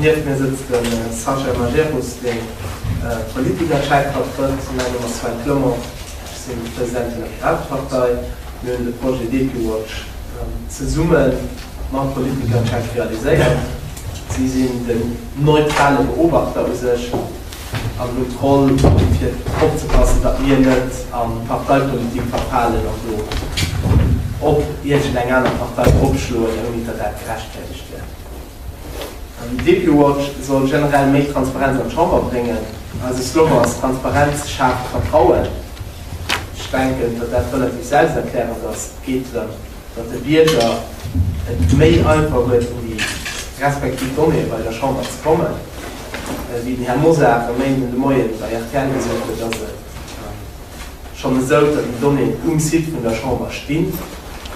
Nieft mir sëtzt de Sascha Majerus, dee Politikerchef vertrëtt. Mäi Numm ass Sven Clement, ech sinn de President vun der Piratepartei. Mir hunn de Projet Depiwatch zesumme mam Politikerchef realiséiert. Si sinn den neutrale Beobachter u sech an hunn d'Roll, fir opzepassen, datt mir net an d'Parteipolitik verfalen an do op iergend eng aner Partei eropschloen, ouni datt dat gerechtfäert ass. Éischt wär, den Depuwatch soll generell méi Transparenz an d'Chamber bréngen. Eise Slogan ass, Transparenz schaaft Vertrauen. Ech denken, datt dat relativ selbsterklärend ass. Et geet drëm, datt de Bierger et méi einfach huet, un déi respektiv Donnéeë bei der Chamber ze kommen. Wéi den Här Mosar e Méinden de Moien bei rtl gesot huet, ass et, schonn esou, datt déi Donnéeën um Site vun der Chamber stinn.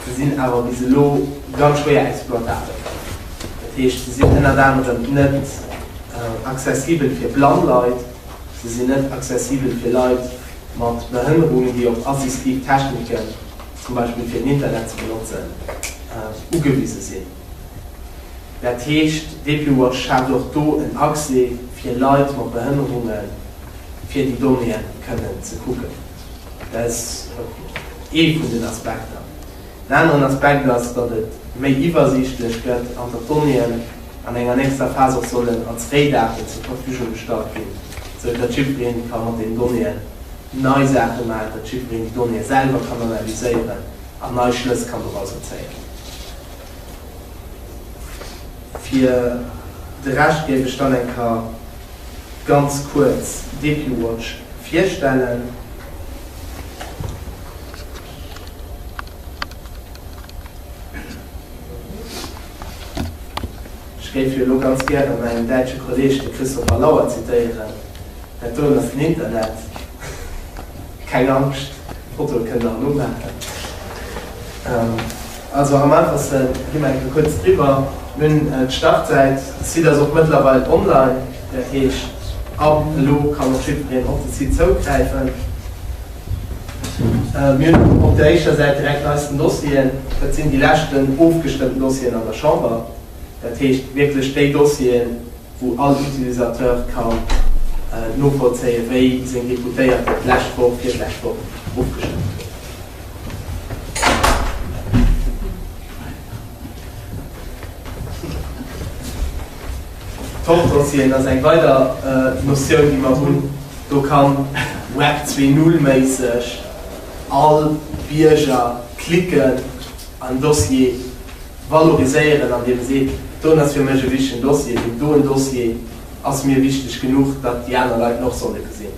Se sinn awer bis elo ganz schwéier exploitabel. Dat heescht, se sinn ënnert anerem net accessibel fir blann Leit, se sinn net accessibel fir Leit mat Behënnerungen, déi op assistiv Techniken, zum Beispill fir den Internet ze benotzen, ugewise sinn. Dat heescht, Depuwatch schaaft och do en Accès fir Leit mat Behënnerunge fir déi Donnéeën kënnen ze kucken. Dat ass ee vun den Aspekter. En aneren Aspekt ass, datt et méi iwwersiichtlech gëtt an datt d'Donnéeën an enger nächster Phas och sollen als Rédaten zur Verfügung gestallt ginn, sou datt jiddweree ka mat deenen Donnéeën nei Saache maachen, datt jiddwereen déi Donnéeë selwer kann analyséieren an nei Schlëss kann dorausser zéien. Fir de Rescht géif ech dann eng Kéier ganz kuerz Depiwatch virstellen. Ech géif jo elo ganz gäre mäin däitsche Kolleeg, de Christopher Lauer, zitéieren, Dat doen ass den Internet. Keng Angscht, d'Fotoe kënnt der erëm umaachen. Also am einfachste gi mer enke kuerz driwwer. Mir hunn d'Startsäit, de Site ass och mëttlerweil online, dat heescht ab elo kann och jiddwereen op de Site zougräifen. Mir hunn op der éischter Säit direkt eisten Dossieren, dat sinn déi leschten ofgestëmmten Dossieren an der Chamber, dat heescht wierklech déi Dossieren, wou all Utilisateur ka novollzéien, wéi seng Deputéiert et d'lescht Woch, virdlescht Woch ofgestëmmt hunn. D'Wortdossieren ass eng weider Notioun, déi mer hunn. Do ka Web 2.0 méisseg all Bierger klicken an Dossier, Valoriséieren, an deem e seet, D'Don ass fir mech e wichtegen Dossier, deen doen Dossier ass mir wichteg genuch, datt déi aner Leit en och solle gesinn.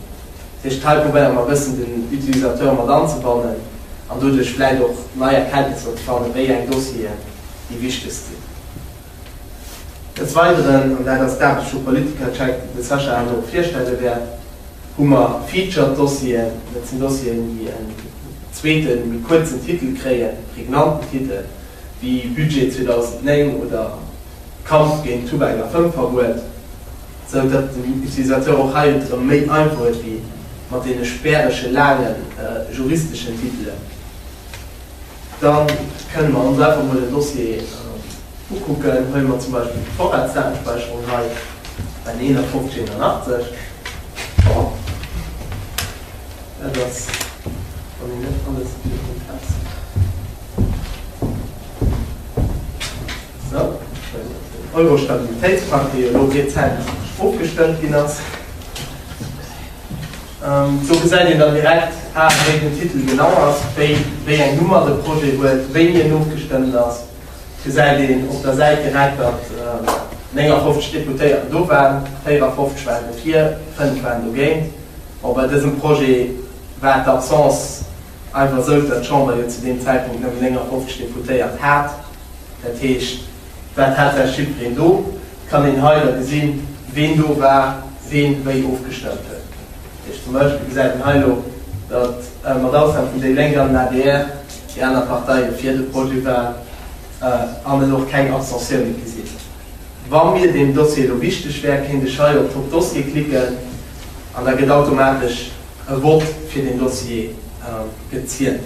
Dat heescht, hei probéiere mer e bëssen den Utilisateur mat anzebannen an doduerch vläit och nei Erkenntnisser ze fannen, wéi eng Dossieren déi wichtegst sinn. Des Weideren, an dat ass d'Aarbecht vu Politikercheck, déi de Sascha herno och virstelle wäert, hu mer Featured Dossieren. Dat sinn Dossieren, déi en zweeten, méi kuerzen Titel kréien, e prägnanten Titel. wéi Budget 2009 oder Kampf géint Tubak a Fëmmverbuet, sou datt den Utilisateur och hei et erëm méi einfach huet wéi mat deene spärege laange juristeschen Titelen. Da kënne mer ons einfach mol den Dossier ukucken. Huele mer zum Beispill déi Vorratsdatenspäicherung hei, N 5181. Bon, dat ass, wann een net alles iwwerholt hat. Eurostabilitéitspakt, dee jo elo rezent ofgestëmmt ginn ass. Do gesäit een dann direkt, a wéi den Titel genau ass, wéi eng Nummer de Projet huet, wéini en ofgestëmmt ass, gesäit een op der Säit direkt, datt 59 Deputéierten do waren, 54 waren dofir, 5 waren dogéint. Bon, bei dësem Projet war d'Absence, Einfach esou, well d'Chamber jo zu deem Zäitpunkt nëmmen 59 Deputéiert hat. Dat heescht, wat hat dat jiddwereen do? Et kann een hei da gesinn, ween do war, ween wéi ofgestëmmt huet. Dat heescht zum Beispill gesäit een hei elo, datt mat Ausnam vun déi Lénk an den adr déi aner Parteie fir de Projet waren an et och keng Abstentioune gi sinn. Wa mir deem Dossier elo wichteg wär, kéint ech hei op Top Dossier klicken an da gëtt automatesch. E Vott fir den Dossier gezielt.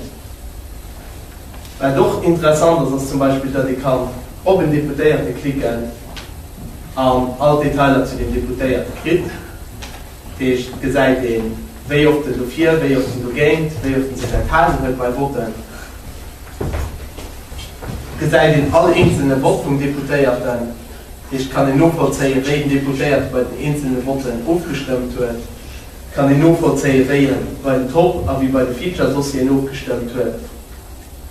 Wat och interessant ass, ass zum Beispill, datt ee kann op en Deputéierte klicken an all d'Detailer zu deem Deputéierte kritt. Dat heescht, et gesäit een, wéi oft en dofir, wéi oft en dogéint, wéi oft en sech enthalen huet bei Votten. Et gesäit een all eenzelne Vott vum Deputéierten. Dat heescht, et kann een novollzéien, wéi den Deputéierte bei den eenzelne Votten ofgestëmmt huet. kann een novollzéien, wéi en bei den Top a wéi bei de Feature-Dossieren ofgestëmmt huet.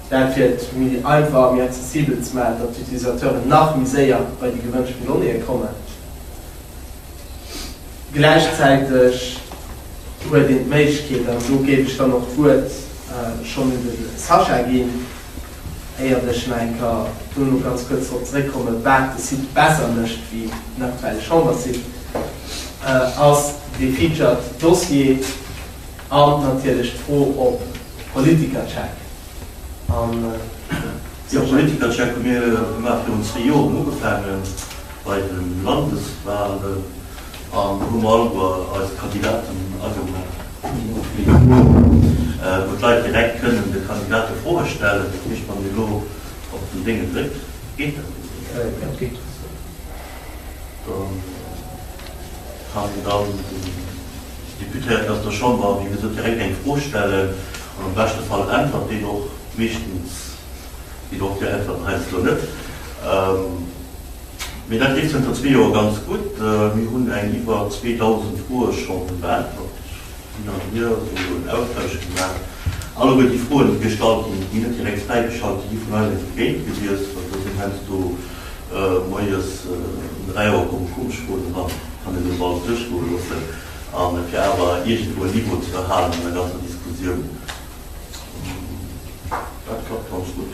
Dat fir et méi einfach a méi accessibel ze maachen, datt d'Utilisateuren nach méi séier bei déi gewënschten Donnéeë kommen. Gläichzäiteg huet een d'Méiglechkeet, an do géif ech dann och d'Wuert schonn un de Sascha ginn, Éiert ech nach eng Kéier dono ganz kuerz drop zeréckkomme wat de Site besser mécht wéi den aktuelle Chambersite, ass dee featured Dossier an natierlech d'Fro op Politikercheck. Jo, Politikercheck hu mir gemaach virun zwee Joren ugefaangen, bei de Landeswahlen. An do hu mer alleguer eis Kandidaten agemellt, wou d'Leit direkt kënnen de Kandidate Froe stellen. Dat heescht, wann ee lo op den Déngen dréckt, geet dat net méi. Jo, dat geet. Da kann een dann den Deputéierten aus der Chamber, wéi gesot, direkt eng Fro stellen an am beschte Fall äntwert deen och. Meeschtens ginn och déi Äntwerten heiansdo net. Mee dat leeft zënter zwee Joer ganz gutt. Mir hunn eng iwwer 2.000 Froe scho beäntwert, hin an hier, wou jo en Austausch gi war. Alleguer déi Froen, déi gestallt ginn, déi net direkt fräigeschalt, déi gi vun eis einfach géint gewiesst. Also do sinn heiansdo moies um 3 Auer komme Kuchelfroen eran, kann een net alles duerchgoe loossen. A fir awer iergendwou en Niveau ze erhalen an der ganzer Diskussioun, dat klappt ganz gutt.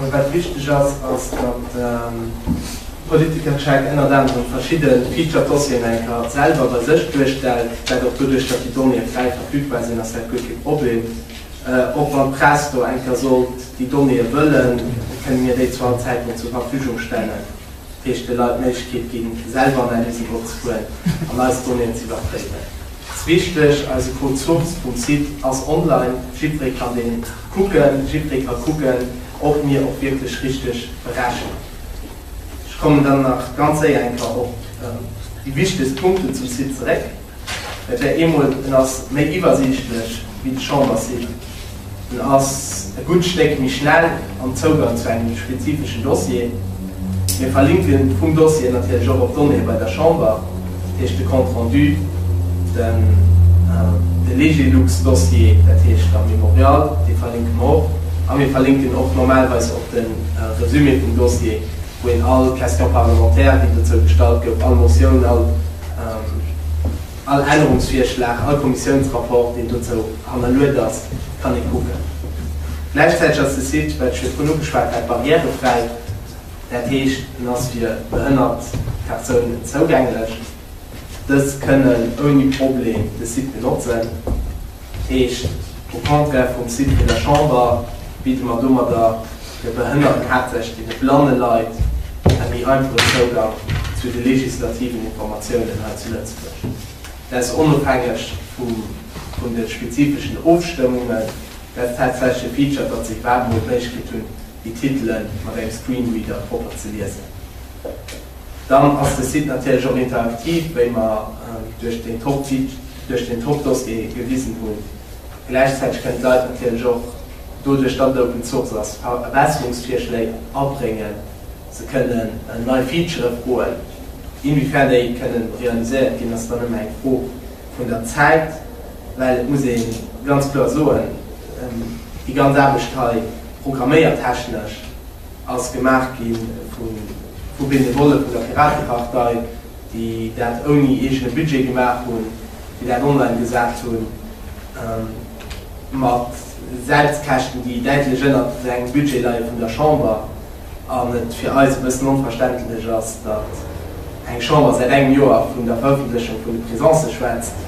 Mee wat wichteg ass, ass datt de Politikercheck ënnert anerem verschidde Feature-Dossieren eng Kéier selwer bei sech duerstellt, dat och doduerch, datt déi Donnéeë fräi verfügbar sinn, ass dat guer kee Problem. Och wann d'Press do eng Kéier sollt déi Donnéeë wëllen, kënne mir déi zu all Zäitpunkt zur Verfügung stellen, dat heescht de Leit d'Méiglechkeet ginn, selwer Analysen duerchzefueren an eis Donnéeën z'iwwerpréiwen. Ass richteg, eise Code Source vum Site ass online, jiddweree kann deen kucken, jiddweree ka kucken ob mir och wierklech richteg berechnen. Ech kommen dann nach ganz séier eng Kéier op déi wichtegst Punkten zum Site zeréck. Dat wär eemol, en ass méi iwwersiichtlech wéi de Chambersite, En ass e gutt Stéck méi schnell am Zougang zu engem spezifeschen Dossier. Mir verlinke vum Dossier natierlech och op d'Donnéeë bei der Chamber, dat heescht de Compte rendu, de Legelux-Dossier, dat heescht am Mémorial, dee verlinke mer och. A mir verlinken och normalerweis op de Resumé vum Dossier, wou een all Question parlementaire, déi dozou gestallt gouf, all Motioun, all. All Ännerungsvirschlag, all Kommissiounsrapport, deen dozou hannerluet ass, kann ee kucken. Gläichzäiteg ass de Site, wat ech virdrun ugeschwat hat, barrièrefräi, dat heescht, en ass fir behënnert Persounen zougänglech. Dës kënnen ouni Problem de Site benotzen. Heescht, au contraire vum Site vun der Chamber bidde mer domadder de behënnerten Haaptsächlech deene blanne Leit e méi einfache Zougang zu de legislativen Informatiounen hei zu Lëtzebuerg. Des onofhängeg vun de spezifeschen Ofstëmmungen. Dat tatsächleche Feature, datt se iwwerhaapt emol d'Méiglechkeet hunn, déi Titele mat engem Screenreader propper ze liesen. Dann ass de Site natierlech och interaktiv, wéi mer duerch den Top-Titre, duerch den Top-Dossier gewisen hunn. Gläichzäiteg kënnen d'Leit natierlech och, doduerch datt et Open Source ass, Verbesserungsvirschléi abréngen, se kënnen nei Featurë froen. Inwiefern déi kënne realiséiert ginn, ass dann ëmmer eng Fro vun der Zäit, well et muss ee ganz kloer soen, déi ganz Aarbecht hei, programméiertechnesch, ass gemaach gi vu Benevolle vun der Piratepartei, déi dat ouni eegene Budget gemaach hunn, déi dat online gesat hunn, mat Selbstkäschten, déi däitlech ënnert engem Budget leie vun der Chamber, an et fir eis e bëssen onverständlech ass, datt eng Chamber säit engem Joer vun der Verëffentlechung vun de Presencë schwätzt,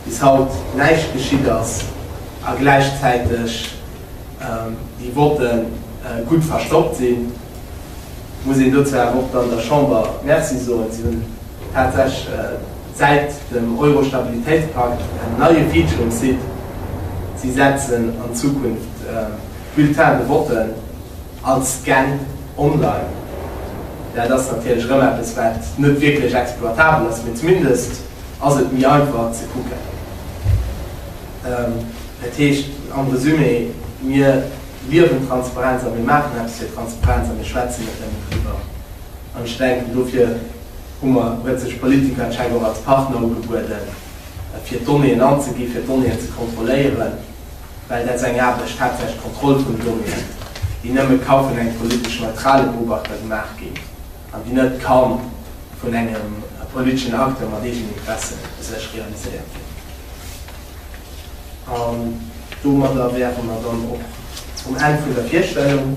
bis haut näischt geschitt ass, a gläichzäiteg. Déi wollte gutt verstoppt sinn. Muss een dozou awer och dann der Chamber Merci soen, si hunn tatsächlech säit dem Euro-Stabilitéitspakt en neie Feature um Site, Si setzen an Zukunft d'Bulletins de vote als Scan online. Dat ass natierlech erëm eppes, wat net wierklech exploitabel ass, mee zumindest ass et méi einfach ze kucken. Dat heescht am Resumé, Mir liewen Transparenz a mir maachen eppes fir Transparenz a mir schwätzen net nëmmen driwwer. An ech denken, dofir hu mer, huet sech d'Politiker anscheinend och als Partner ugebueden, fir Donnéeën anzegi fir Donnéeën ze kontrolléieren, well dat ass eng Aarbecht, haaptsächlech d'Kontroll vun Donnéeën, déi nëmme ka vun engem politesch neutrale Beobachter gemaach ginn. an déi net kann vun engem politeschen Acteur mat Eegeninteressen u sech realiséiert ginn. An domadder wäre mer dann och um Enn vun der Virstellung.